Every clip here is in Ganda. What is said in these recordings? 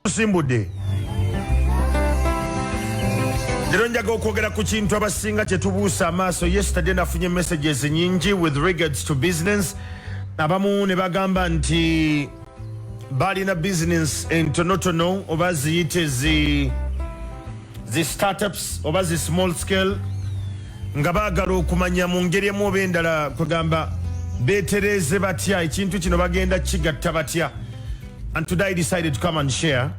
tusimbudde lero njaga okwogera ku kintu abasinga kyetubuusa amaaso yesterday nafunye messages nyingi with regards to business abamu ne bagamba nti balina bizinensi entonotono oba ziyite zi zi startups oba zi small scale nga baagala okumanya mu ngeri emu oba endala kwegamba betereeze batya ekintu kino bagenda kigatta batya and today I decided to come and share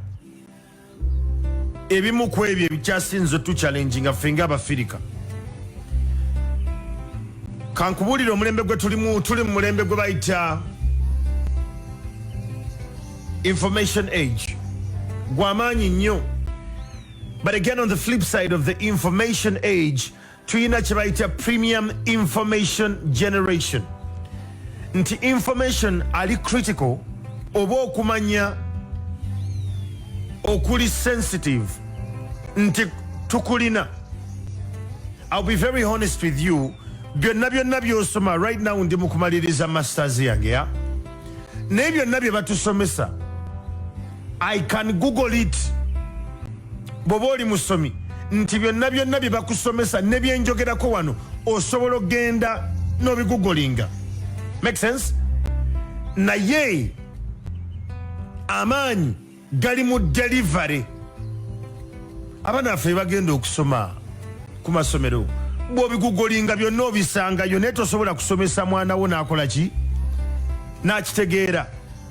ebimu ku ebyo ebikyasinze tuchallenginga ffe ngaabafirika kankubuulire omulembe gwe tulimu tuli mu mulembe gwe bayita information age gwamaanyi nnyo but again on the flip side of the information age tulina kyebayita premium information generation nti information ali critical oba okumanya okuli sensitive nti tukulina ill be very honest with you byonna byonna byosoma right now ndi mukumaliriza masters yange ya naye byonna bye batusomesa I can google it bwoba oli musomi nti byonna byonna bye bakusomesa ne bye njogerako wano osobola okugenda n'obigugolinga make sense naye amaanyi gali mu delivery abaana baffe bagenda okusoma ku masomero bwobigugolinga byonna obisangayo naye tosobola kusomesa mwana wo n'akola ki n'akitegeera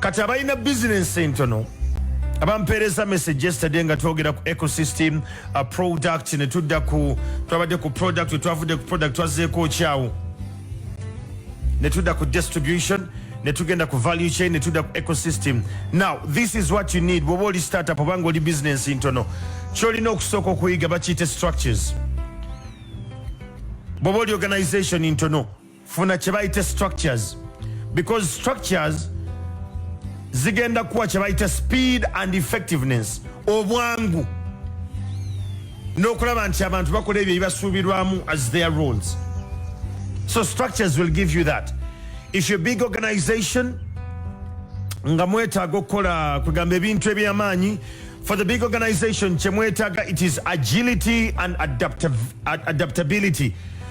kati abalina bizinensi entono abampeereza message yesterday nga twogera ku ecosystem uh, product ne tudda ku twabadde ku product wetwavudde ku product twazeeko okyawo ne tudda ku distribution ne tugenda ku value chain ne tudda ku ecosystem now this is what you need bwoba oli startup obanga oli bizinensi ntono kyolina okusooka okuyiga bakiyite structures bwoba oli organization ntono funa kyebayita structures because structures zigenda kuwa kyebayita speed and effectiveness obwangu n'okulaba nti abantu bakola ebyo ebibasuubirwamu as their roles so structures will give you that if your big organization nga mwetaaga okukola kwegamba ebintu ebyamaanyi for the big organization kyemwetaaga it is agility and adaptability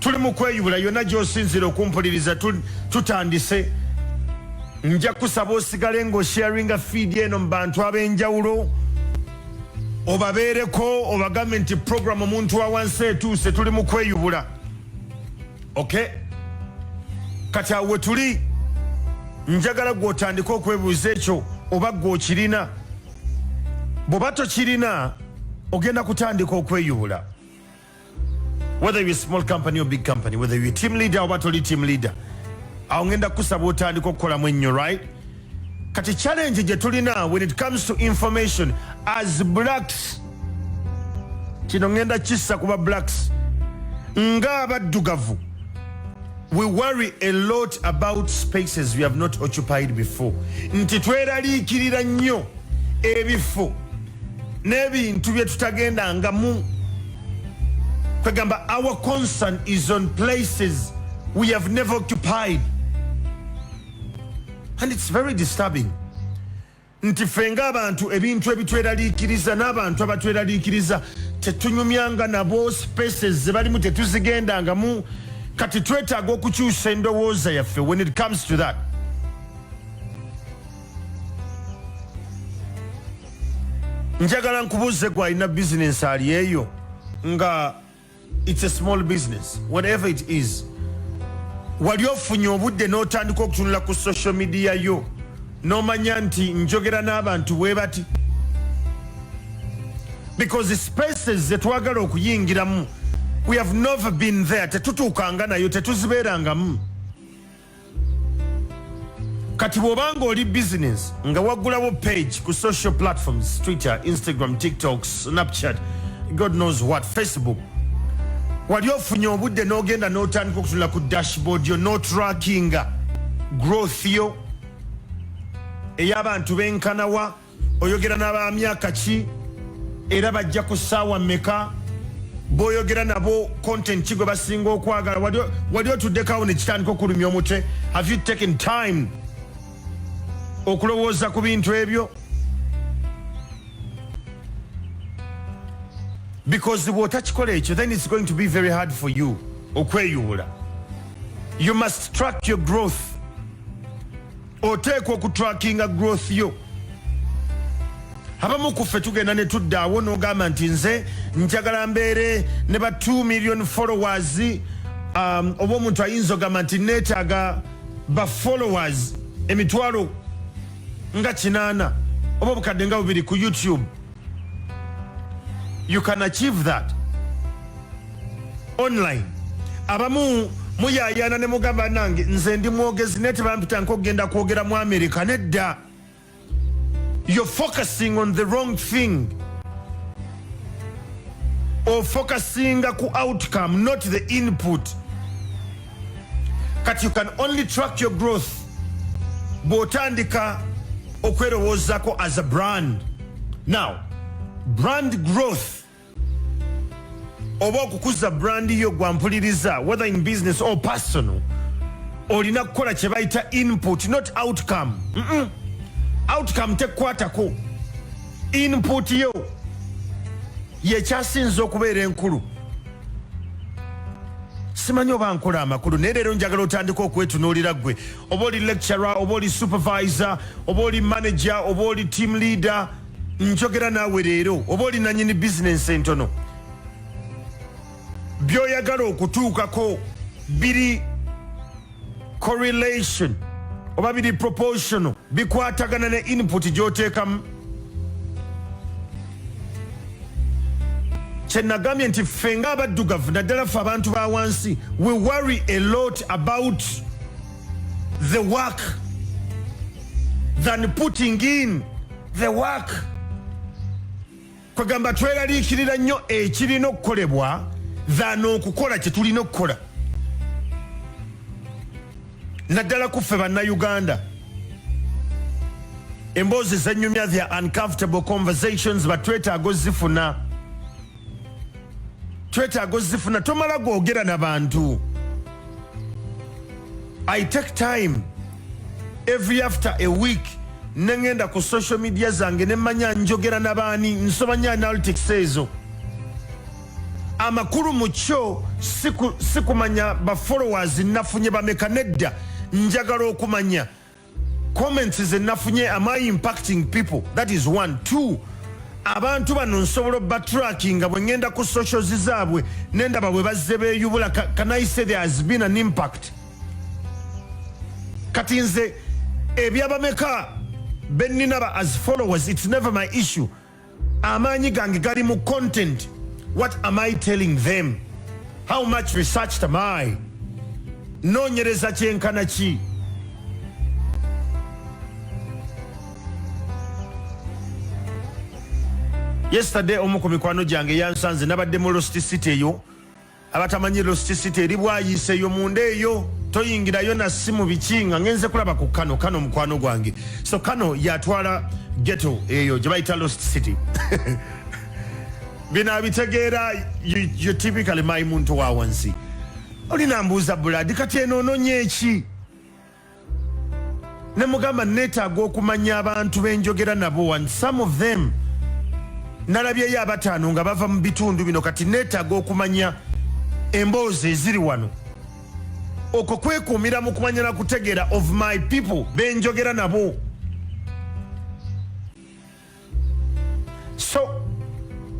tuli mu kweyubula yonna gyosinzira okumpuliriza tutandise nja kusaba osigale ng'osharinga fiidi eno mu bantu ab'enjawulo obabeereko obagambe nti programu omuntu wa wansi etuuse tuli mu kweyubula okay kati awo wetuli njagala gwotandika okwebuuza ekyo oba gwe okirina bw'oba tokirina ogenda kutandika okweyubula whether you're a small company or big company whether you're a team leader oba toli team leader awo ngenda kusaba otandika okukolamu ennyo right kati challenge gye tulina when it comes to information as blacks kino ngenda kissa kuba blacks nga abaddugavu we worry a lot about spaces we have not occupied before nti tweraliikirira nnyo ebifo n'ebintu bye tutagendangamu kwegamba our concern is on places we have never occupied and it's very disturbing nti ffe ng'abantu ebintu ebitweraliikiriza n'abantu abatweraliikiriza tetunyumyanga nabo spaces ze balimu tetuzigendangamu kati twetaaga okukyusa endowooza yaffe when it comes to that njagala nkubuuze gwe alina bizinensi ali eyo nga its a small business whatever it is wali ofunye obudde n'otandika okutunula ku social media yo n'omanya nti njogera n'abantu bwe bati because spaces zetwagala okuyingiramu we have never been there tetutuukanga nayo tetuzibeerangamu kati bwoba nga oli business nga wagulawo page ku social platforms twitter instagram tiktok snapchat god knows what facebook wali ofunye obudde n'ogenda n'otandika okutunula ku dashboard yo n'otrackinga growth yo ey'abantu benkanawa oyogera naba myaka ki era bajja ku ssaawa mmeka boyogera nabo content ki gwe basinga okwagala wali otuddekawo nekitandika okulumya omutwe have you taken time okulowooza ku bintu ebyo because bwotakikola ekyo then it's going to be very hard for you okweyubula you must track your growth oteekwa okutrakinga growth yo abamu kuffe tugenda ne tudda awo n'ogamba nti nze njagala mbeere ne ba 2 million followers um, oba omuntu ayinza ogamba nti neetaaga ba followers emitwalo nga kinaana oba obukadde nga bubiri ku youtube you can achieve that online abamu muyayana ne mugamba nange nze ndi mwogezi naye tebampita nkogenda kwogera mu america nedda you're focusing on the wrong thing ofocusinga ku outcome not the input kati you can only track your growth bwotandika okwerowoozako as a brand now brand growth oba okukuza brand yo gwampuliriza whether in business or personal olina kukola kyebayita input not outcome mm -mm. outcome tekukwatako input yo yekyasinza okubeera enkulu simanyi oba nkola amakulu naye leero njagala otandika okwetunuulira gwe oba oli lecturer oba oli supervisor oba oli manager oba oli team leader njogera naawe leero oba oli nanyini bizinensi entono byoyagala okutuukako biri correlation oba biri proportional bikwatagana ne input gyoteekamu kyenagambye nti ffe nga abaddugavu naddala ffe abantu ba wansi we worry a lot about the work than putting in the work kwegamba tweraliikirira nnyo ekirina okukolebwa than okukola kyetulina okukola naddala kuffe bannayuganda emboozi zenyumya the uncomfortable conversations batwetaaga ozifuna twetaaga ozifuna tomala gwogera na bantu i take time every after a week nengenda ku social media zange nemanya njogera nabaani nsobanya analytics ezo amakulu mu kyo sikumanya bafollowers nafunye bameka nedda njagala okumanya comments zenafunye am i impacting people that is one two abantu bano nsobola obatrackinga bwe ngenda ku socials zaabwe nendaba bwe bazze beyubula can i say there has been an impact kati nze ebyabameka benina ba as followers it's never my issue amaanyi gange gali mu content what am i telling them how much research am i noonyereza kyenkana ki yesterday omu ku mikwano gyange yansanze nabadde mu lost city eyo abatamanyi lost city eri bwayiise eyo munda eyo toyingirayo na simu biki nga ngenze kulaba ku kano kano mukwano gwange so kano yatwala geto eyo gye bayita lost city bino abitegeera you typically my muntu wa wansi olinambuuza buladi kati eno ononye eki ne mugamba neetaaga okumanya abantu be njogera nabo one some of them nalabyeyo abataano nga bava mu bitundu bino kati neetaaga okumanya emboozi eziri wano okwo kwekuumira mu kumanya na kutegeera of my people be njogera nabo so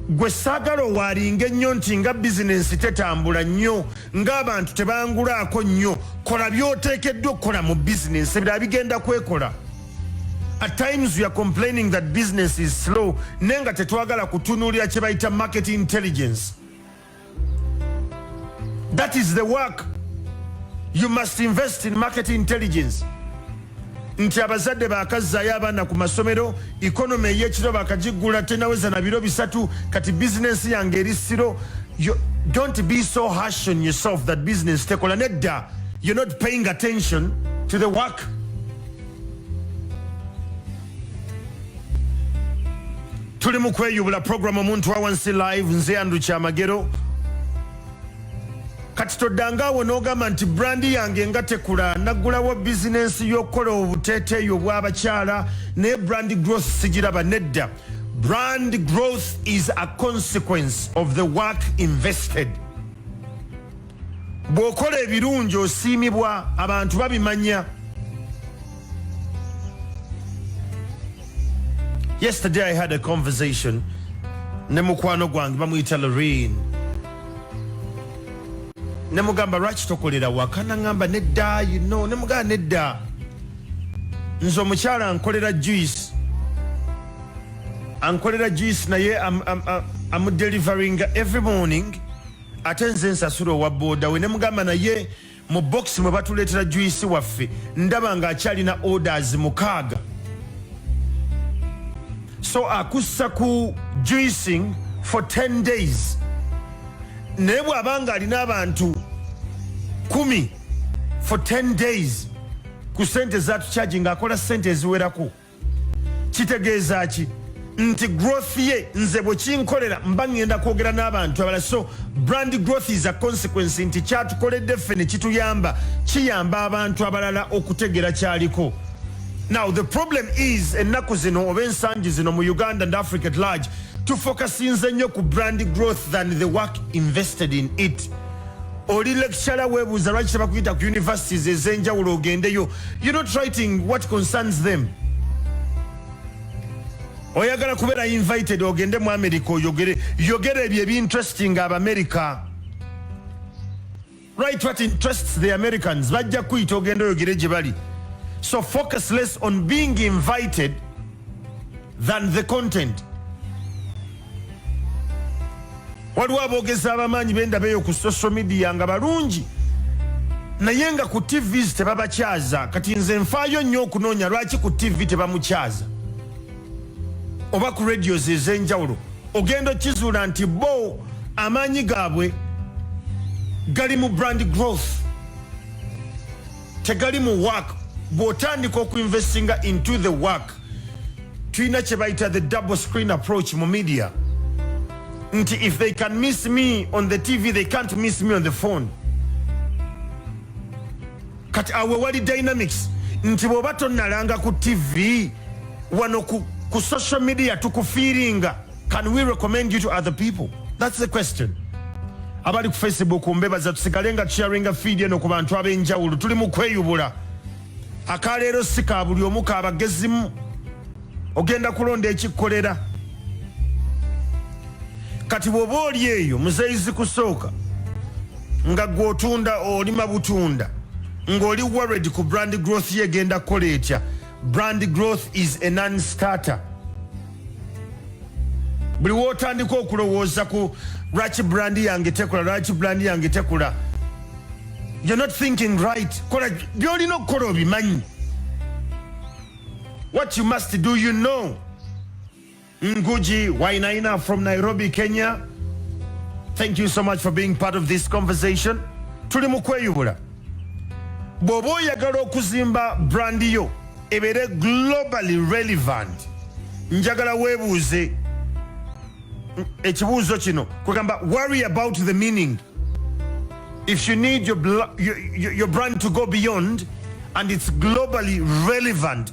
gwe saagala owaalinga ennyo nti nga bizinensi tetambula nnyo ng'abantu tebangulaako nnyo kola by'oteekeddwa okukola mu bizinensi ebirala bigenda kwekola at times we are complaining that business is slow naye nga tetwagala kutunuulira kye bayita market intelligence That is the work you must invest in market intelligence nti abazadde bakazzaayo abaana ku masomero economy eyekiro bakagiggula tenaweza na biro bisatu kati bizinensi yange eri siro don't be so harsh on yourself that business tekola nedda you're not paying attention to the work tuli mu kweyubula programu omuntu awansi live nze andu kyamagero kati toddanga awo n'ogamba nti brandi yange nga tekula naggulawo bizinensi y'okukola obuteeteeyi obw'abakyala naye brandi growth sigiraba nedda brand growth is a consequence of the work invested bw'okola ebirungi osiimibwa abantu babimanya yesterday i had a conversation ne mukwano gwange bamuyita loreen nemugamba lwaki tokolera waka naŋamba nedda you know nemugamba nedda nze omukyala nkolera juice ankolera juice naye amudeliveringa every morning ate nze nsasula owa boda we nemugamba naye mu box mwe batuleetera juisi waffe ndaba nga akyalina orders mukaaga so akussa ku juicing for 10 days naye bw'aba nga alina abantu kumi for 10 days ku sente zatukyagi ng'akola sente eziwerako kitegeeza ki nti growth ye nze bwekinkolera mba ngenda kwogera n'abantu abala so brand growth is a consequence nti kyatukoledde ffe nekituyamba kiyamba abantu abalala okutegera kyaliko now the problem is ennaku zino oba ensangi zino mu uganda and africa at large tufokasinze nnyo ku brand growth than the work invested in it oli lecturer webuuza lwaki tebakuyita ku universities ezenjawulo ogendeyo you not writing what concerns them oyagala kubeera invited ogende mu america oyogere yogere ebyo ebinteresting abamerica right what interests the americans bajja kuyita ogenda oyogere gye bali so focus less on being invited than the content waliwo aboogezi abamaanyi bendaba eyo ku social media nga balungi naye nga ku tv tebabakyaza kati nze nfaayo nnyo okunoonya lwaki ku tv tebamukyaza oba ku radios ez'enjawulo ogenda okizuula nti bo amaanyi gaabwe gali mu brand growth tegali mu work bwotandika okuinvestinga into the work tulina kyebayita the double screen approach mu media nti if they can miss me on the tv they can't miss me on the phone kati awe wali dynamics nti bwoba tonalanga ku tv wano ku, ku social media tukufiiringa Can we recommend you to other people? That's the question. Abali ku Facebook mbebaza tusigale nga sharinga feed eno ku bantu ab'enjawulo tuli mu kweyubula. Akaleero si ka buli omu ka bagezimu ogenda kulonda ekikolera. Kati bw'oba oli eyo muzeyizi kusooka nga gw'otunda olima butunda ng'oli worried ku brand growth ye egenda kukola etya Brand growth is a non-starter. Buli wotandika okulowooza ku lwaki brand yange tekula lwaki brand yange tekula you're not thinking right kola byolina okukola obimanyi what you must do you know Nguji Wainaina from Nairobi, Kenya. Thank you so much for being part of this conversation. Tuli mu kweyubula. Bw'oba oyagala okuzimba brand yo ebeere globally relevant, njagala weebuuze ekibuuzo kino kwegamba worry about the meaning if you need your, your, your brand to go beyond and it's globally relevant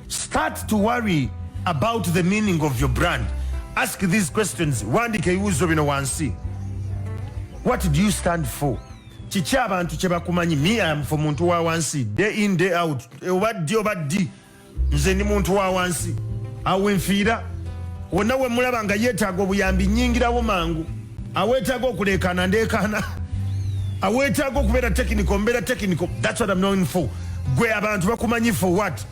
Start to worry about the meaning of your brand. Ask these questions. Wandika ebibuuzo bino wansi. What do you stand for? Kiki abantu kye bakumanyi? Me I am for muntu wa wansi. Day in day out. Oba ddi oba ddi. Nze ndi muntu wa wansi. Awo enfiira. Wonna we mulaba nga yeetaaga obuyambi nnyingirawo mangu. Awetaga okulekana ndekana. Awetaga okubera technical mbera technical. That's what I'm known for. Gwe abantu bakumanyi for what?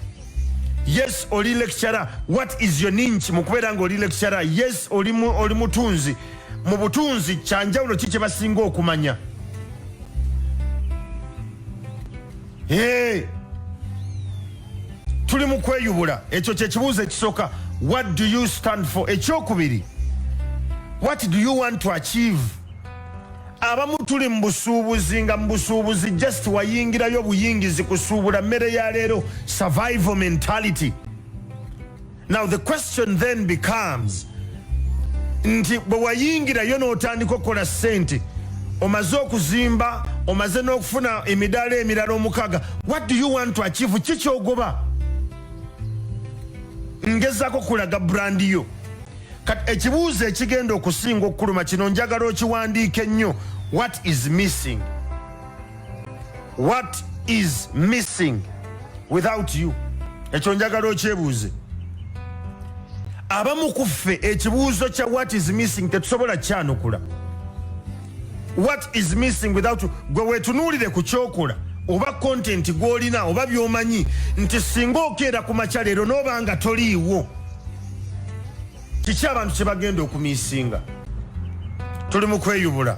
Yes oli lecturer. What is your ninch mukubera ngo oli lecturer? Yes oli mu, oli mutunzi. Mu butunzi chanjawulo chiche basingo okumanya. Hey! tuli mu kweyubula ekyo kyekibuuzo ekisooka what do you stand for ekyokubiri what do you want to achieve abamu tuli mu busuubuzi nga mu busuubuzi just wayingirayo buyingizi kusuubula mmere ya leero survival mentality now the question then becomes nti bwe wayingirayo n'otandika okukola ssente omaze okuzimba omaze n'okufuna emidaala emirala omukaga what do you want to achieve ki kyogoba ngezako kulaga brandi yo kati ekibuuzo ekigenda okusinga okukuluma kino njagala okiwandiika ennyo what is missing what is missing without you ekyo njagala okyebuuze abamu ku ffe ekibuuzo kya what is missing tetusobola kyanukula what is missing without you gwe wetunuulire ku kyokola oba kontenti gwolina oba byomanyi nti singa okeera ku makya leero noba nga toliiwo kiki abantu kyebagenda okumisinga tuli mu kweyubula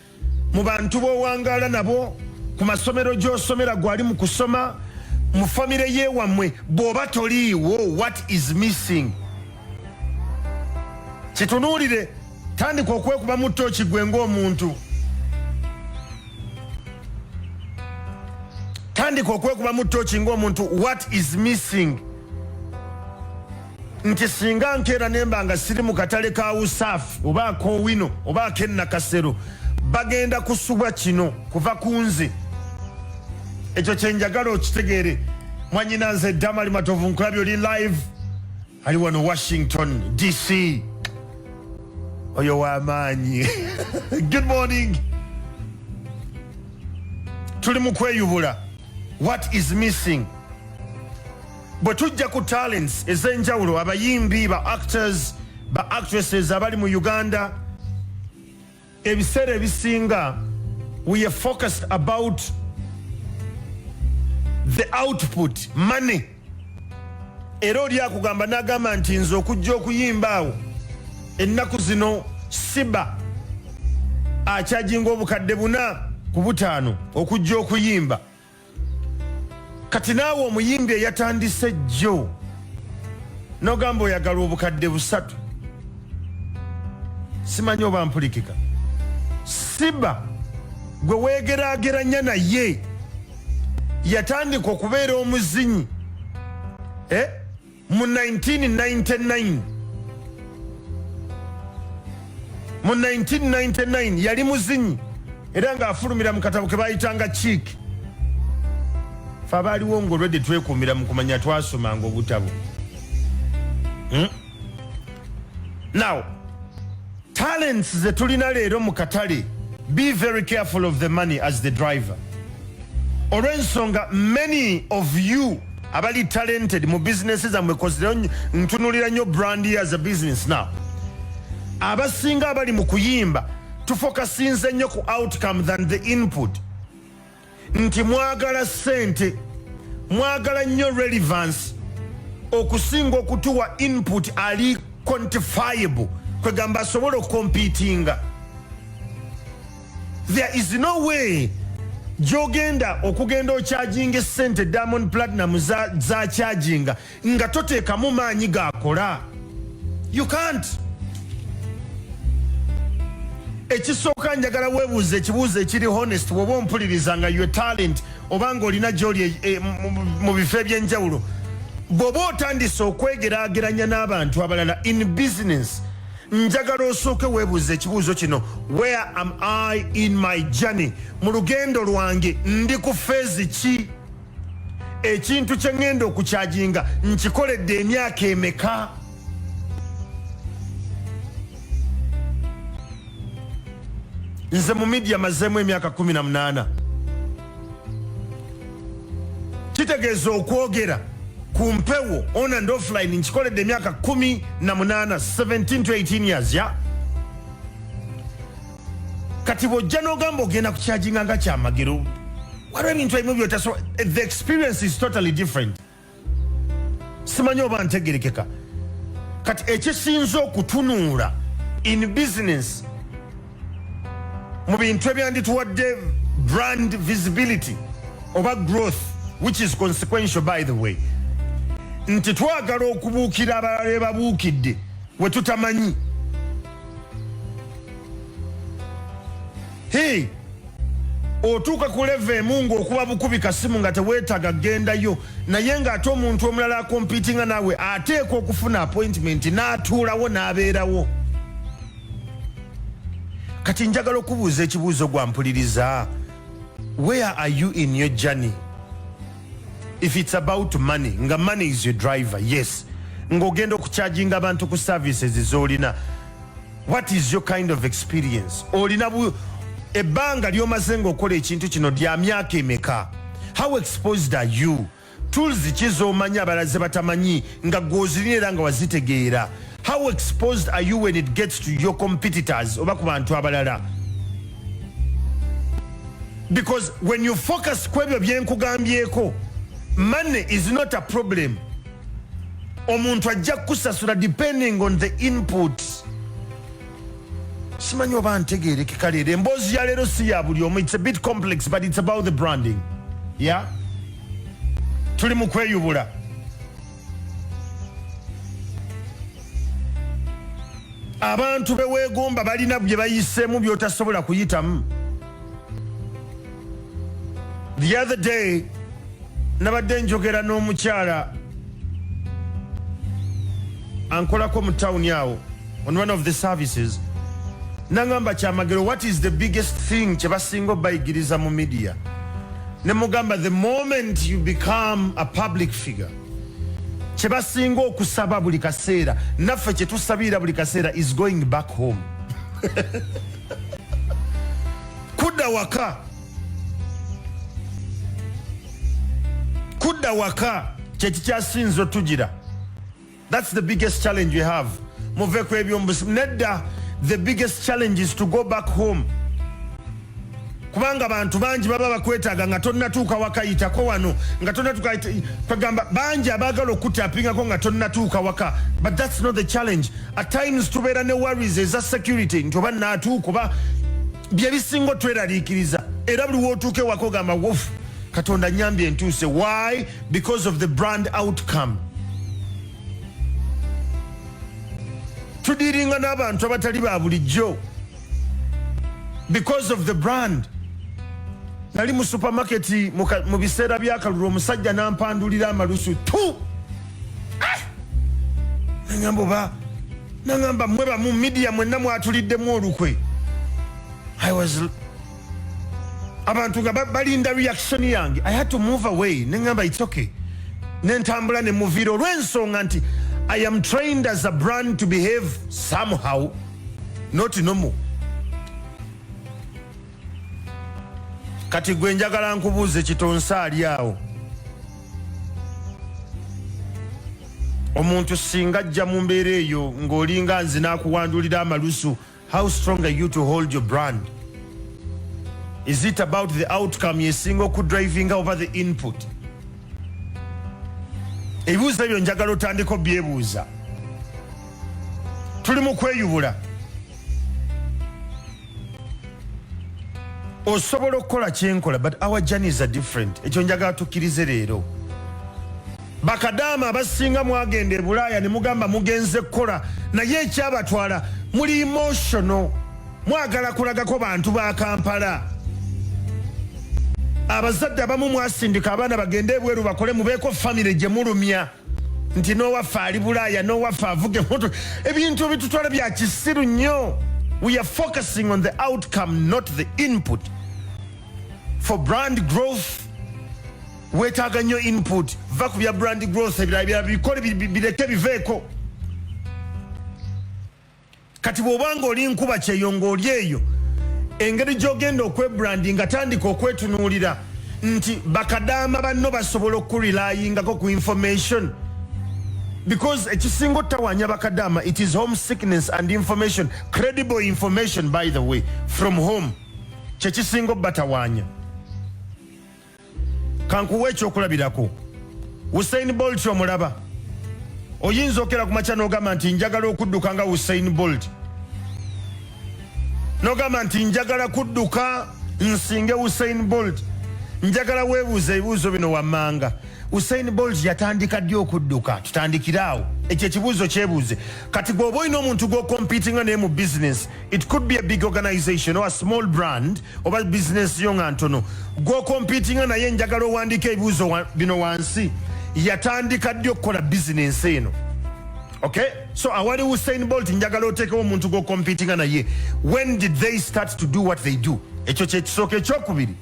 mu bantu b'owangaala nabo ku masomero gy'osomera gwali mu kusoma mu famire yewammwe bw'oba toliiwo what is missing kitunuulire tandika okwekuba mu tooki gwe ng'omuntu tandika okwekuba mu tooki ng'omuntu what is missing nti singa nkeera nemba nga siri mu katale ka usaafu oba akowino oba akennakasero bagenda kusubwa kino kuva ku nze ekyo kyenjagala okitegeere mwanyina nze damali matovu nkulabi oli live ali wano washington dc oyo wamaanyi good morning tuli mu kweyubula what is missing bwe tujja ku talents ez'enjawulo abayimbi ba actors ba actresses abali mu uganda ebiseera ebisinga we are focused about the output money era oli akugamba n'agamba nti nze okujja okuyimba awo ennaku zino siba akyajinga obukadde buna ku butaano okujja okuyimba kati naawe omuyimbi eyatandise jjo nogamba oyagala obukadde busatu simanyi oba mpulikika siba gwe wegerageranya naye yatandika okubeera omuzinyi eh? mu 1999 mu 1999 yali muzinyi era ng'afulumira mu katabo ke bayitanga kiiki fe abaaliwo ngaolwedde twekuumira mu kumanya twasomanga obutabo hmm? now Talents ze tulina leero mu katale be very careful of the money as the driver olw'ensonga many of you abali talented mu business zammwe kozira ntunulira nnyo brand as a business now abasinga abali mu kuyimba tufokasinze nnyo ku outcome than the input nti mwagala sente mwagala nnyo relevance okusinga okutuwa input ali quantifiable kwegamba asobola okompitinga there is no way gyogenda okugenda okyajinga esente diamond platinum zakyajinga nga toteekamu maanyi gakola you can't ekisooka njagala webuuza ekibuuzo ekiri honest woba ompuliriza nga your talent oba nga olina gyoli e, e, mu bifo ebyenjawulo bwoba otandise okwegerageranya n'abantu abalala in business njagala osooke webuuza ekibuuzo kino where am i in my journey mu lugendo lwange ndi ku feezi ki ekintu kye ŋŋenda okukyajinga nkikoledde emyaka emeka nze mu midia mazeemu emyaka 18 kitegeeza okwogera ku mpewo on and offline nkikoledde emyaka 18 17 to 18 years ya yeah? kati bwojja nogamba ogenda kukyajinga nga kyamagero waliwo ebintu ebimu byotaso the experience is totally different simanyi oba ntegerekeka kati ekisinza okutunuula in business mu bintu ebyandituwadde brand visibility oba growth which is consequential by the way nti twagala okubuukira abalala bebabuukidde wetutamanyi Hey! otuuka ku leva emu ngaokuba bukubi kasimu nga teweetaga gendayo naye ng'ate omuntu omulala akompitinga naawe ateekwa okufuna appointment n'atuulawo n'abeerawo kati njagala okubuuza ekibuuzo gwampuliriza where are you in your journey if it's about money nga money is your driver yes ng'ogenda okucharginga abantu ku services zolina what is your kind of experience olina ebbanga lyomaze ngaokola ekintu kino lya myaka emeka how exposed are you tools ki zomanya abalaze batamanyi nga gwozirina era nga wazitegeera how exposed are you when it gets to your competitors oba ku bantu abalala because when you focus ku ebyo byenkugambyeko money is not a problem omuntu ajja kukusasula depending on the input simanyi oba ntegeerekeka leero emboozi ya leero si ya buli omu it's a bit complex but it's about the branding ya yeah? tuli mu kweyubula abantu beweegomba balina bye bayiseemu byotasobola kuyitamu the other day nabadde njogera n'omukyala ankolako mu tawuni awo on one of the services nangamba kyamagero what is the biggest thing kyebasinga obayigiriza mu media nemugamba the moment you become a public figure kyebasinga okusaba buli kaseera naffe kyetusabiira buli kaseera is going back home kudda waka kudda waka kyekikyasinza otugira That's the biggest challenge we have. Muve ku ebyo nedda the biggest challenge is to go back home. Kubanga bantu bangi baba bakwetaga nga tonnatuuka wakayitako wano nga tonnatuuka kagamba bangi abaagala okutapingako nga tonnatuuka waka but that's not the challenge at times tubeera ne worries eza security nti oba naatuuka oba bye bisinga otweraliikiriza era buli wootuuka ewaka ogamba wofu katonda nyambye entuuse why because of the brand outcome tudiringa n'abantu abatali ba bulijjo because of the brand nali mu supermarket mu biseera byakalulu omusajja nampandulira amalusu tu ah! nangamba oba nangamba mwe bamu midiya mwenna mwatuliddemu olukwe i was abantu nga balinda reaction yange i had to move away nengamba its okay nentambula nemuviira olwensonga nti i am trained as a brand to behave somehow not normal kati gwe njagala nkubuuze kitonsa ali awo omuntu singa ajja mu mbeera eyo ng'olinga nzi n'akuwandulira amalusu how strong are you to hold your brand is it about the outcome yesinga okudrivinga oba the input ebibuuzo ebyo njagala otandiko byebuuza tuli mu kweyubula osobola okukola kyenkola but our journeys are different ekyo njagala tukkirize leero bakadaama abasinga mwagenda e bulaaya ne mugamba mugenze kukola naye ekyabatwala muli emotional mwagala kulagako bantu ba kampala abazadde abamu mwasindika abaana bagende ebweru bakole mubeeko famire gye mulumya nti n'owaffe ali bulaaya n'owaffe avuga emmotoka ebintu ebitutwala bya kisiru nnyo we are focusing on the outcome not the input for brand growth weetaaga nnyo input va ku bya brand growth ebirala birala bikole bireke biveeko kati bwoba nga oli nkuba kyeyo nga oli eyo engeri gyogenda okwebrandi nga tandika okwetunuulira nti bakadaama banno basobola okukurelayingako ku information because ekisinga otawanya bakadaama it is home sickness and information credible information by the way from home kyekisinga obatawanya kankuwa ekyokulabirako usain bolt omulaba oyinza okera ku makya nogamba nti njagala okudduka nga usain bolt nogamba nti njagala kudduka nsinge usain bolt njagala webuuza ebibuuzo bino wammanga usain bolt yatandika ddi okudduka tutandikire awo ekyo ekibuuzo kyebuuze kati gweoba olina omuntu gwokompitinga naye mu bizinesi It could be a big organization or a small brand oba business yo nga ntono gw'okompitinga naye njagala owandiika ebibuuzo wa, bino wansi yatandika ddi okukola bizinensi eno okay so awali usain bolt njagala oteekewo omuntu gw'okompitinga naye when did they start to do what they do ekyo kyekisooka ekyokubiri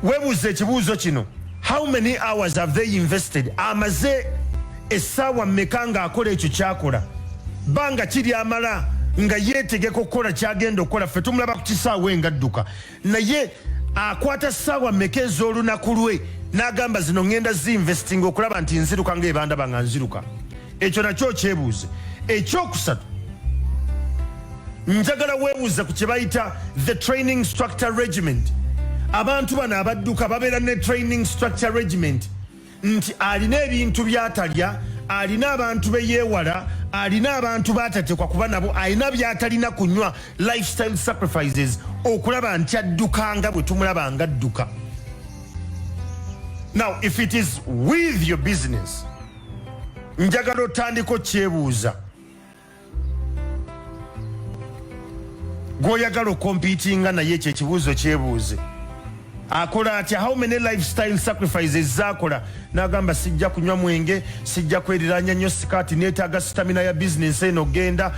webuuza ekibuuzo kino how many hours have they invested amaze essaawa mmeka ng'akola ekyo kyakola banga kiri amala nga yeetegeka okukola kyagenda okukola ffe tumulaba ku kisaawa engadduka naye akwata ssaawa mmeka ez'olunaku lwe n'agamba zino ŋŋenda zi investing okulaba nti nziruka ng'ebandaba nga nziruka ekyo nakyo okyebuuze ekyokusatu njagala webuuze ku kyebayita the training structure regiment abantu bano abadduka babeera ne training structure regiment nti alina ebintu byatalya alina abantu beyewala alina abantu batatekwa kuba nabo alina byatalina kunywa lifestyle sacrifices okulaba nti adduka nga bwe tumulaba nga adduka now if it is with your business njagala otandika okyebuuza gwoyagala okompitinga naye ekyo ekibuuzo kyebuuze akola atya how many lifestyle sacrifices zakola nagamba sijja kunywa mwenge sijja kweriranya nyo sikati netaga sitamina ya bizinensi eno genda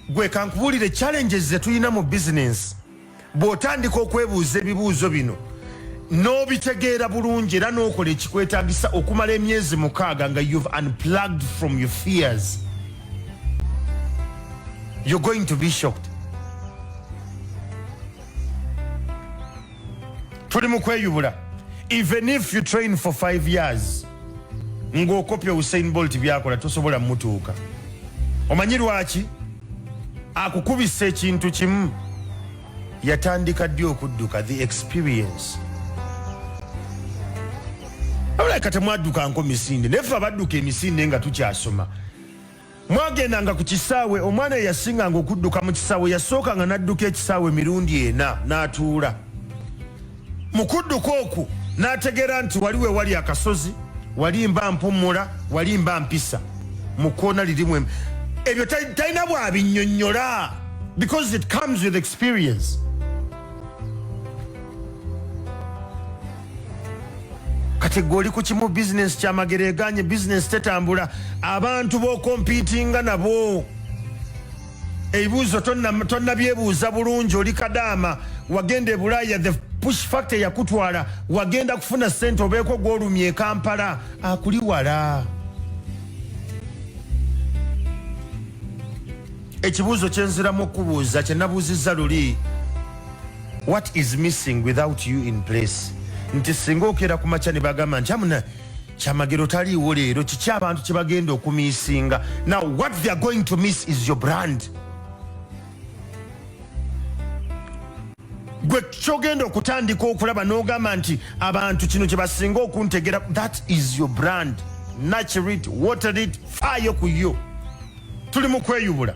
gwe kankubulire challenges zetulina mu bizinensi bw'otandika okwebuuza ebibuuzo bino n'obitegeera bulungi era n'okola ekikwetagisa okumala emyezi mukaaga nga you've unplugged from your fears you're going to be shocked tuli mu kweyubula even if you train for five years ng'okopya usain bolt byakola tosobola mutuuka omanyi lwaki akukubisa ekintu kimu yatandika ddi okudduka the experience abulaka temwaddukanko misinde naye fe abadduka emisinde nga tukyasoma mwagendanga ku kisaawe omwana eyasinganga okudduka mu kisaawe yasookanga n'adduka ekisaawe emirundi ena n'atuula na Mu kudduka okwo n'ategeera nti wali we wali akasozi, wali mba mpummula, wali mba mpisa mu kkoona lirimu emu. Ebyo talina bw'abinnyonnyola because it comes with experience. kati gwe oli ku kimu bizinensi kyamagero eganye bizinensi tetambula abantu bokompitinga nabo ebibuuzo tonnabyebuuza bulungi oli kadaama wagenda e bulaaya the push factor yakutwala wagenda kufuna sente obeeko gwolumya ekampala akuli wala ekibuuzo kyenziramu okubuuza kyenabuuzizza luli what is missing without you in place nti singa okeera ku makya ne bagamba nti amuna kyamagero taliiwo leero kiki abantu kyebagenda okumisinga now what they are going to miss is your brand gwe kyogenda okutandika okulaba nogamba nti abantu kino kyebasinga okuntegera that is your brand nature it water it faayo ku yo tuli mu kweyubula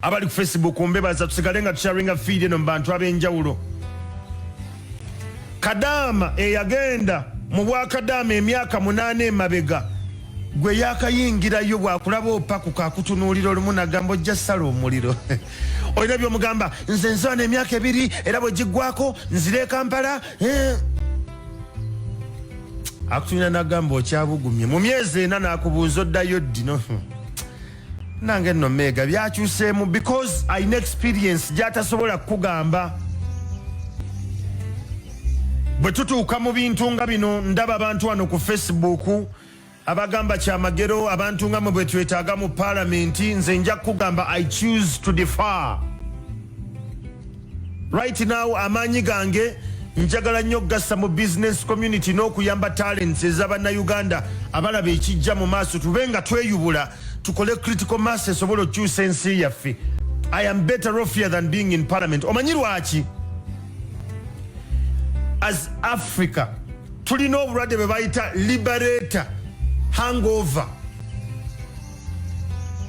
abali ku facebook mbebaza tusigale nga tusharinga fiidi eno mu bantu ab'enjawulo Kadaama eyagenda mu bwakadaama emyaka munaana emabega gwe yakayingirayo bwakulaba opakuka akutunuulira olumu nagamba ojja sala omuliro olina byomugamba nze nzana emyaka ebiri era bwegiggwako nzira ekampala eh. akutunira nagamba okyabugumye mu myezi ena nakubuuza oddayo ddino nange nno meega byakyuseemu because alina experience gyatasobola kukugamba bwe tutuuka mu bintu nga bino ndaba abantu wano ku facebook abagamba kyamagero abantu nga mwe bwetwetaaga mu palamenti nze nja kukugamba i choose to defar Right now amaanyi gange njagala nnyo okugassa mu business community n'okuyamba talents ez'abannayuganda abalaba ekijja mu maaso tube nga tweyubula tukole critical mass esobola okukyusa ensi yaffe i am better off here than being in parliament omanyi lwaki as africa tulina obulwadde bwe bayita liberator hangover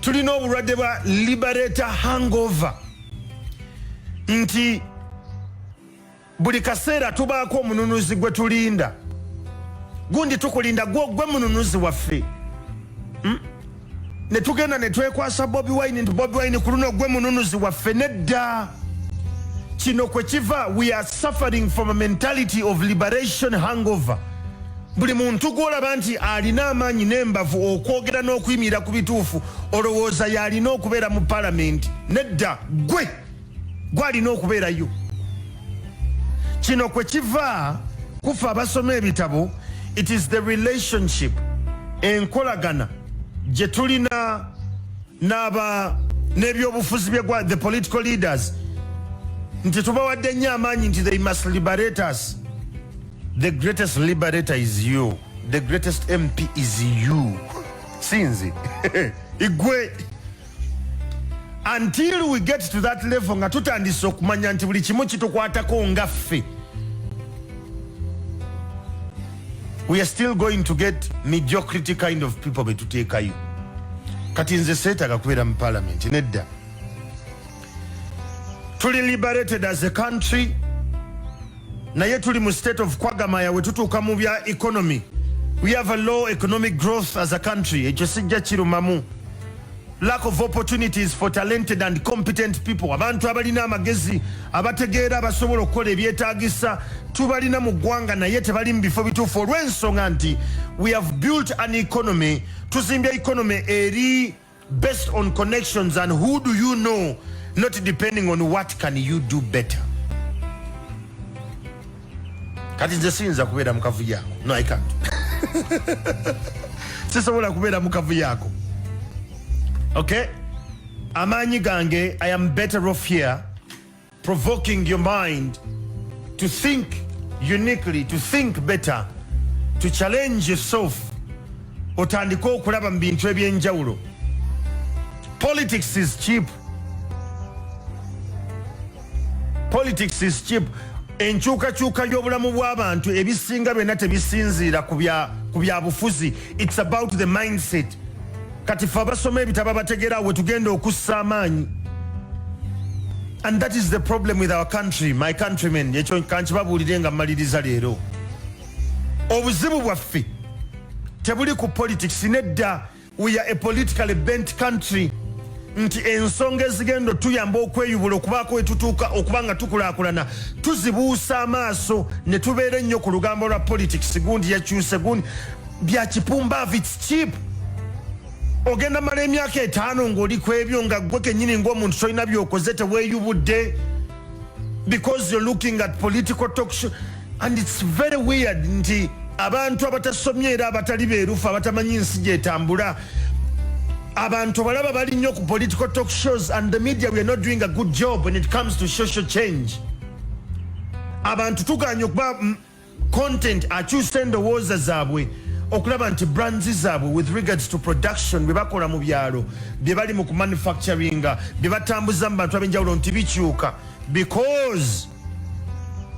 tulina obulwadde bwa liberator hangover nti buli kaseera tubaako omununuzi gwe tulinda gundi tukulinda gwogwe mununuzi waffe hmm? ne tugenda ne twekwasa bobi wine nti bobi wine ku luno gwe mununuzi waffe nedda kino kwe kiva we are suffering from a mentality of liberation hangover Buli muntu gw'olaba nti alina amaanyi n'embavu okwogera n'okuyimirira ku bituufu olowooza y'alina okubeera mu palamenti? Nedda, ggwe gw'alina okubeerayo. Kino kwe kiva kufa abasoma ebitabo, it is the relationship, enkolagana gye tulina n'aba n'ebyobufuzi bye gwa the political leaders nti tubawadde nnyo amaanyi nti they must liberate us The greatest liberator is you. The greatest MP is you. Sinzi. Igwe. Until we get to that level nga tutandise okumanya nti buli kimu kitukwatako nga ffe. We are still going to get mediocrity kind of people betuteekayo. Kati nze seetaga kubeera mu parliament nedda. tuli liberated as a country naye tuli mu state of kwagamaya wetutuuka mu bya economy we have a low economic growth as a country ekyo sijja kirumamu lack of opportunities for talented and competent people abantu abalina amagezi abategeera abasobola okukola ebyetagisa tubalina mu ggwanga naye tebali mu bifo bituufu olw'ensonga nti we have built an economy tuzimbye economy eri based on connections and who do you know not depending on what can you do better kati nze siyinza kubeera mukavu yako no i can't sisobola kubeera mukavu yako okay amaanyi gange i am better off here provoking your mind to think uniquely to think better to challenge yourself otandike okulaba mu bintu ebyenjawulo politics is cheap politics is cheap enkyukakyuka y'obulamu bw'abantu ebisinga byonna tebisinziira ku byabufuzi it's about the mindset kati fe abasoma ebitabo abategera wetugenda okussa amaanyi and that is the problem with our country my countrymen ekyo kankibabuulire nga mmaliriza leero obuzibu bwaffe tebuli ku politics nedda we are a politically bent country nti ensonga ezigenda tuyamba okweyubula okubaako wetutuuka okuba nga tukulaakulana tuzibuusa amaaso ne tubeera ennyo ku lugambo lwa politics gundi yakyuse gundi bya kipumbavu its cheap ogenda mala emyaka etaano ngaoli ku ebyo nga gwe kenyini ngaomuntu tolina byokoze teweyubudde because you're looking at political talk show and it's very weird nti abantu abatasomye era abatali beerufu abatamanyi nsi gyetambula abantu abalaba bali nnyo ku political talk shows and the media weare not doing a good job when it comes to social change abantu tuganye okuba content akyusa endowooza zaabwe okulaba nti brands zaabwe with regards to production bye bakola mu byalo bye bali mu kumanufacturinga bye batambuza mu bantu ab'enjawulo nti bikyuka because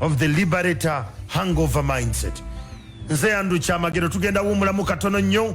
of the liberator hangover mindset nze andrew kyamagero tugenda wuumulamu katono nnyo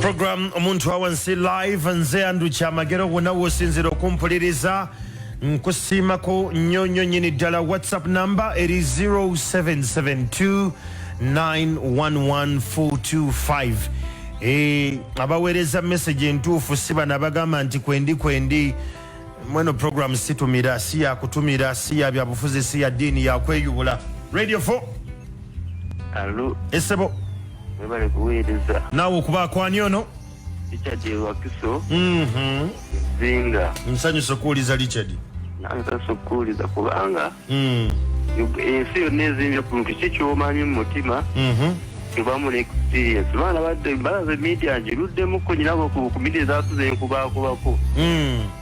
program omuntu awansi live nze andu kyamagero wona wosinzira okumpuliriza nkusiimako nnyo nnyo nyini ddala whatsapp number eri 0772 911425 e, abaweereza message entuufu si bano abagamba nti kwendi kwendi mweno program situmira si yakutumira si ya byabufuzi si ya ddiini yakweyubula radio 4 esebo webale kuweereza naawe okuba akwani ono richard ewakiso Mhm. zinga nsanyusa okuwuliza richard nansasa okuwuliza kubanga Mm. Ug- ensi yonna ezimbye ku muntu ki kyomanyi mu mutima Mhm. tebamu ne experience baana badde balaze media ngiruddemu ko nyinabo ku ku media zatuze nkubaakubako Mm.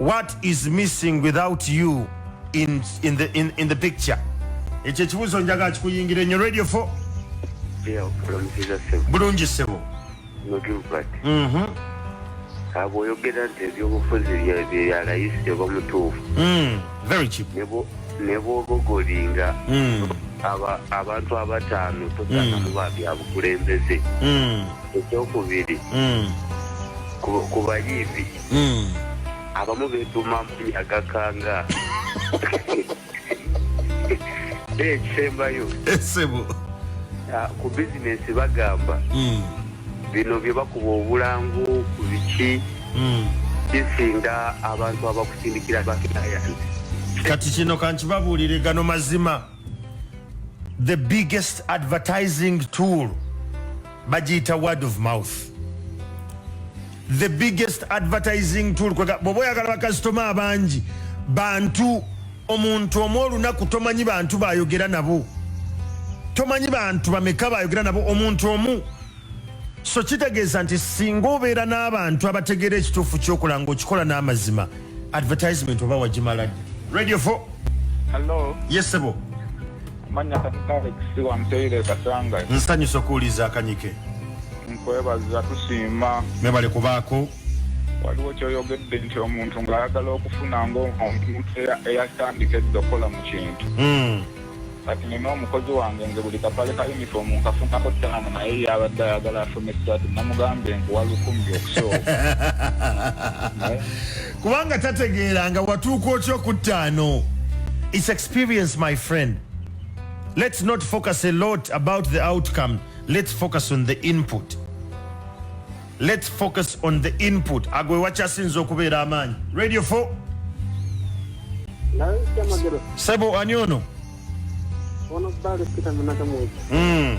what is missing without you in, in, the, in, in the picture ekyo ekibuzo njaga kikuyingira enyo radio fo bulungi sebo mhm. abo oyogera nti ebyobufuzi byeyalayisi teba mutuufu mm, nebwobogolinga mm. abantu abataano tosanamubabyabukulembeze mm. ekyokubiri mm. ku bayiibi mm. abamu beetuma agakanga naye ekisembayo esebo ah, ku bizinesi bagamba mm. bino bye bakuba obulangu ku biki bisinda abantu abakusindikira bakinayanzi kati kino kankibabuulire gano mazima the biggest advertising tool bagiyita word of mouth the biggest advertising tool bwoba oyagala bakasitoma abangi bantu omuntu omu olunaku tomanyi bantu bayogera nabo tomanyi bantu bameka bayogera nabo omuntu omu so kitegeeza nti singa obeera n'abantu abategeera ekituufu kyokola nga okikola n'amazima advertisement oba wagimala radio fo yesebo yes, manya katikaleksi wampeire katanga nsanyusa okuwuliza akanyike nkwebaza tusiima mwebale kubaako waliwo kyoyogedde nti omuntu ng'ayagala okufuna ngaomuntu eyatandika edda okukola mu kintu hmm. kati nina omukozi wange nze buli kapale ka yunifoomu nkafunako ttaano naye yabadde ayagala afune ssaati namugambye nkuwa lukumi okusooka kubanga tategeera nga watuuka otya okuttaano its experience my friend let's not focus a lot about the outcome let's focus on the input let's focus on the input ago wewakyasinza okubeera amaanyi radio 4 sebo ani ono ono bali pita munaka mweji mm.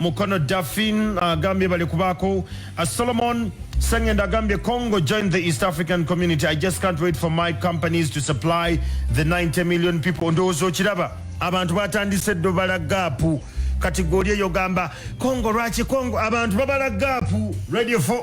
Mukono Dafin agambye bali kubaako uh, Solomon Sengenda agambye Congo joined the East African community I just can't wait for my companies to supply the 90 million people ndowooza okiraba abantu batandise ddo bala gaapu kati goli eyo gamba Congo lwaki Congo abantu babala gaapu radio 4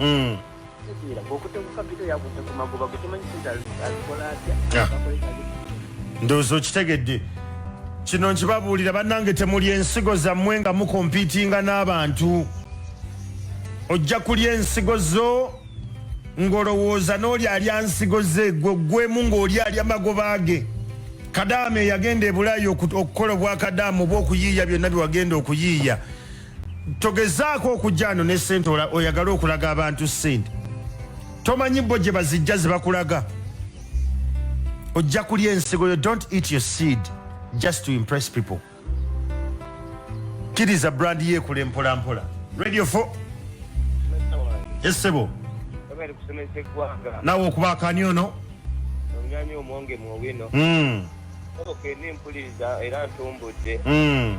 mm. ndowooza okitegedde kino nkibabuulira bannange temuli ensigo zammwe nga mukompiitinga n'abantu ojja kulya ensigo zo ng'olowooza n'oli alya nsigo ze gwe gwemu ng'oli alya magoba ge kadaama eyagenda ebulaayi okukola obwakadaama oba okuyiiya byonna bye wagenda okuyiiya togezaako okujja ano ne sente oyagala okulaga abantu sente tomanyi bo gye bazijja zebakulaga ojja kulya ensigo yo don't eat your seed just to impress people kiriza brand yekule mpola mpola radio fo esebo nawe okuba akani ono hmm. mpuliriza era ntumbudde hmm.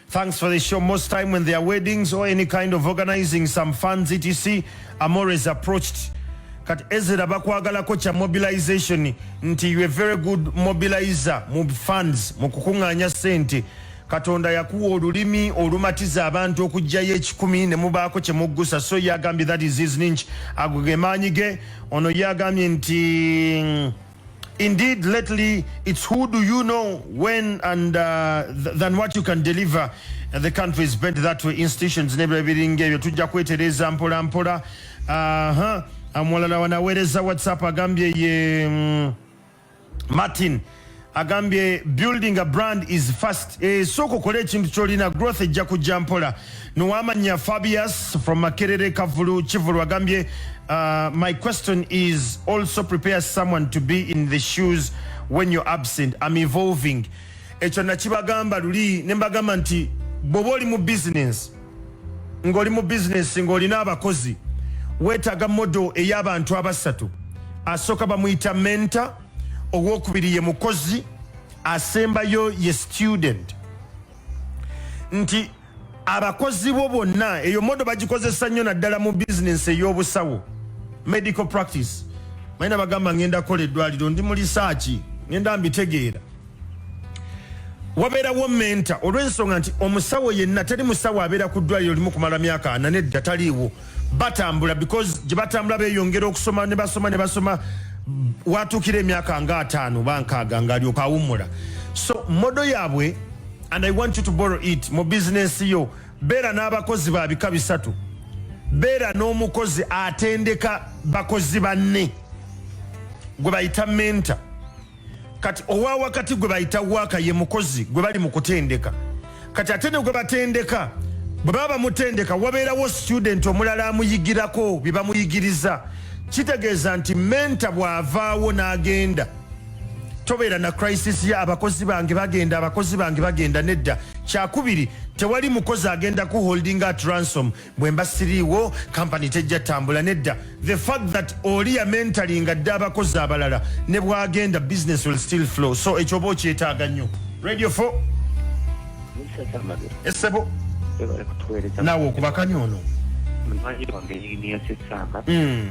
Thanks for the show. Most time when there are weddings or any kind of organizing some funds etc, I'm always approached kati ezera bakwagalako kya mobilization nti you a very good mobilizer mu funds mu kukuŋŋaanya ssente katonda yakuwa olulimi olumatiza abantu okugjayo ekikumi ne mubaako kye muggusa so ye agambye that is his ninch ago ge maanyi ge ono ye agambye nti Indeed, lately it's who do you know when and uh, th than what you can deliver. And the country is bent that way. Institutions nebula biringa ebyo tujja kwetereza mpola mpola. Aha, amulala wanawereza WhatsApp agambye ye um, Martin agambye building a brand is fast. Eh, soko kole ekintu kyolina growth ejja kujja mpola. Nuwamanya Fabius from Makerere Kavulu Kivulu agambye uh, my question is also prepare someone to be in the shoes when you're absent I'm evolving ekyo nakibagamba luli ne mbagamba nti bwoba oli mu business ng'oli mu business ng'olina abakozi weetaaga modo ey'abantu abasatu asooka bamuyita menta owokubiri ye mukozi asembayo ye student nti abakozi bo bonna eyo modo bagikozesa nnyo naddala mu bizinensi ey'obusawo medical practice maina bagamba ngenda kola eddwaliro ndi mu lisaaki ngenda mbitegeera wabeerawo menta olw'ensonga nti omusawo yenna teri musawo abeera ku ddwaliro limu kumala myaka ana nedda taliiwo batambula because gye batambula beyongera okusoma ne basoma ne basoma watuukira emyaka nga ataano bankaaga ngaalyoka awummula so modo yaabwe and i want you to borrow it mu bizinensi yo beera n'abakozi ba bika bisatu beera n'omukozi atendeka bakozi banne gwe bayita menta kati owa wakati gwe bayita waaka ye mukozi gwe bali mu kutendeka kati ate ne gwe batendeka bwe baba bamutendeka wabeerawo student omulala amuyigirako bye bamuyigiriza kitegeeza nti menta bw'avaawo n'agenda tobeera na crisis ya abakozi bange bagenda abakozi bange bagenda nedda kyakubiri tewali mukozi agenda ku holding at ransom bwemba siriiwo kampani tejja tambula nedda the fact that oli yamentalinga dda abakozi abalala ne bwagenda business will still flow so ekyoba okyetaaga nnyo radio fo esebo naawe okubakanya ono hmm.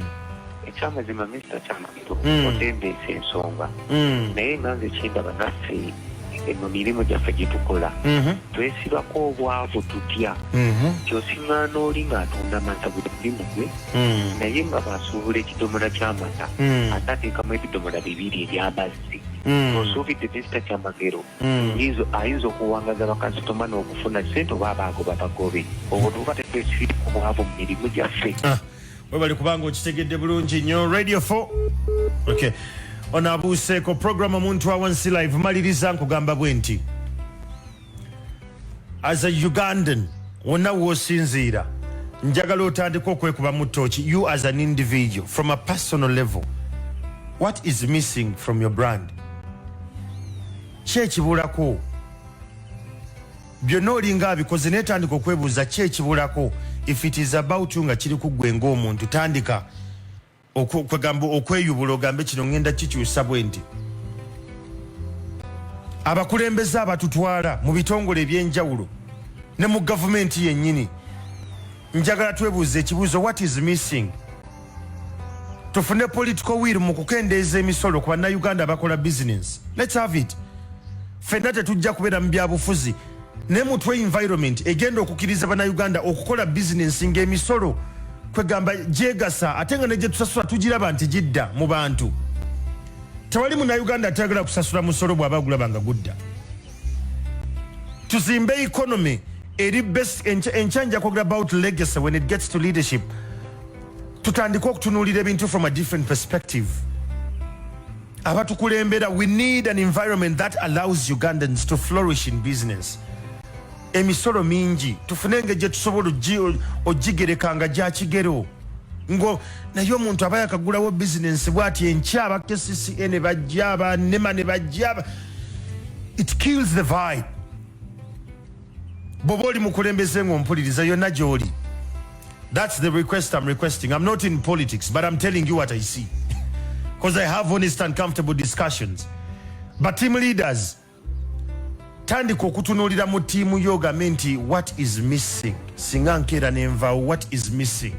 ekyamazima mr Kristo mm. otembeesa ensonga mm. naye nga nze kyendaba naffe mu mirimu gyaffe gye tukola mhm. twesibako obwavu tutya mhm. kyosiŋŋaana oli ng'atunda amata buli mulimu gwe mhm. naye nga basuubula ekidomola ky'amata ate ateekamu ebidomola bibiri eby'amazzi osuubidde tesita kyamagero ayinza okuwangaza bakasitoma n'okufuna sente oba abaago babagobe obwo tuba tetwesibirako obwavu mu mirimu gyaffe ah. webale kubanga okitegedde bulungi nyo radio 4 okay ono abuuseeko program omuntu awansi live maliriza nkugamba bwe nti as a ugandan wonna woosinziira njagala otandika okwekuba mu tooki you as an individual from a personal level what is missing from your brand ki ekibulako byonna olinga abikoze naye tandika okwebuuza ki ekibulako if it is about you nga kiri kuggwe ngaomuntu tandika kwegamba okweyubula ogambe kino ngenda kikyusa bwe nti abakulembeze abatutwala mu bitongole ebyenjawulo ne mu gavumenti yennyini njagala twebuuza ekibuuzo what is missing tufune political will mu kukendeeza emisolo ku bannayuganda abakola business lets have it fenna tetujja kubeera mu byabufuzi ne mutwe environment egenda okukiriza bannayuganda okukola business ng'emisolo kwegamba gyegasa ate nga negyetusasula tugiraba nti gidda mu bantu tewali munayuganda atayagala kusasula musolo bwaba agulaba nga gudda tuzimbe economy eri best enkya nja kwogera about legacy when it gets to leadership tutandika okutunuulira ebintu from a different perspective abatukulembera we need an environment that allows ugandans to flourish in business emisolo mingi tufune engeri gyetusobola ogigereka nga gyakigero ngo naye omuntu aba yakagulawo bizinensi bwati enkya aba kcca ne bajja aba nema ne bajja it kills the vibe bwoba oli mukulembeze ngaompuliriza yonna gyoli thats the request im requesting im not in politics but im telling you what i see because i have honest and comfortable discussions but team leaders tandika okutunuulira mu tiimu yo ogambe nti what is missing singa nkeera nenvawo what is missing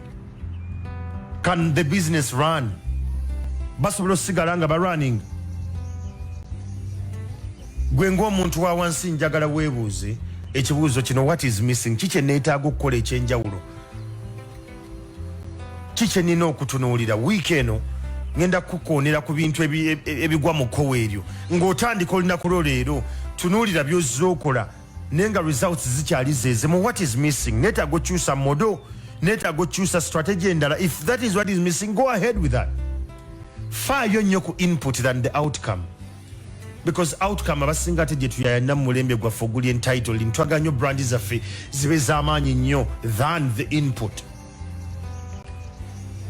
can the business run basobola osigala nga barunning gwe ngaomuntu wa wansi njagala weebuuze ekibuuzo kino what is missing kikye neetaaga okukola ekyenjawulo kiki nina okutunuulira wiiki eno ngenda kukukoonera ku bintu e, e, ebigwa mu kkowa eryo ng'otandika olunaku lwo leero tunuulira byozza okola naye nga results zikyali zeezimu what is missing neetaaga okyusa modo neetaaga okyusa strategy endala if that is what is missing go ahead with that faayo nnyo ku input than the outcome because outcome abasinga ate gyetuyayana mumulembe gwaffe oguli entitled ntwaga nyo brand zaffe zibe zamaanyi nnyo than the input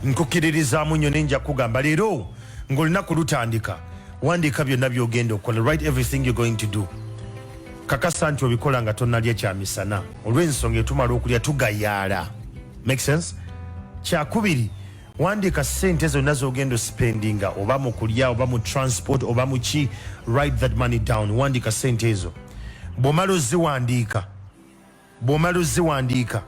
nkukiririzaamu nnyo nenja kugamba leero ngaolunaku lutandika wandiika byonna byogenda okukola right everything you're going to do kakasa nti obikola nga tonalya kyamisana olw'ensonga etumala okulya tugayaala make sense kyakubiri wandiika sente zonna zogenda ospendinga oba mu kulya oba mu transport oba muki write that money down wandiika sente ezo bwomala oziwandiika bwomala oziwandiika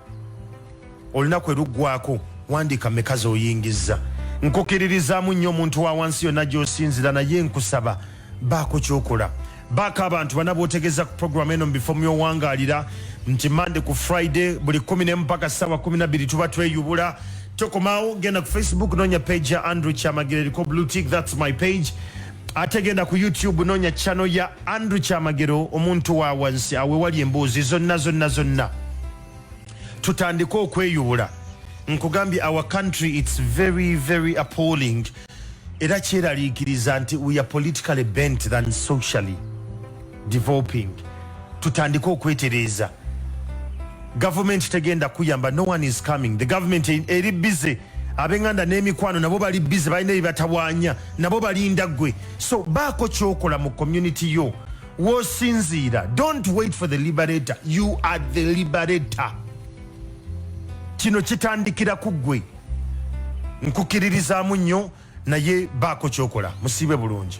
olunaku eruggwako wandiika meka zoyingiza nkukiririzaamu nnyo omuntu wa wansi yonna gyosinzira naye nkusaba baako kyokola baako abantu bana botegeza ku program eno mubifo myowangalira nti mande ku friday buli kumi nemu paka sawa kumi nabiri tuba tweyubula tokomawo genda ku facebook nonya page ya andrew kyamagire eriko blue tick thats my page ate genda ku youtube nonya channel ya andrew kyamagero omuntu wa wansi awe wali embuuzi zonna zonna zonna tutandike okweyubula nkugambye our country it's very very appalling era kyeraliikiriza nti we are politically bent than socially developing tutandike okwetereeza gavumenti tegenda kuyamba no one is coming the government e-, eri bize abenganda n'emikwano nabo bali bize balina ebibatawanya nabo balinda gwe so baako kyokola mu community yo wosinziira don't wait for the liberator you are the liberator kino kitandikira ku gwe nkukiririzaamu nnyo naye baako kyokola musiibe bulungi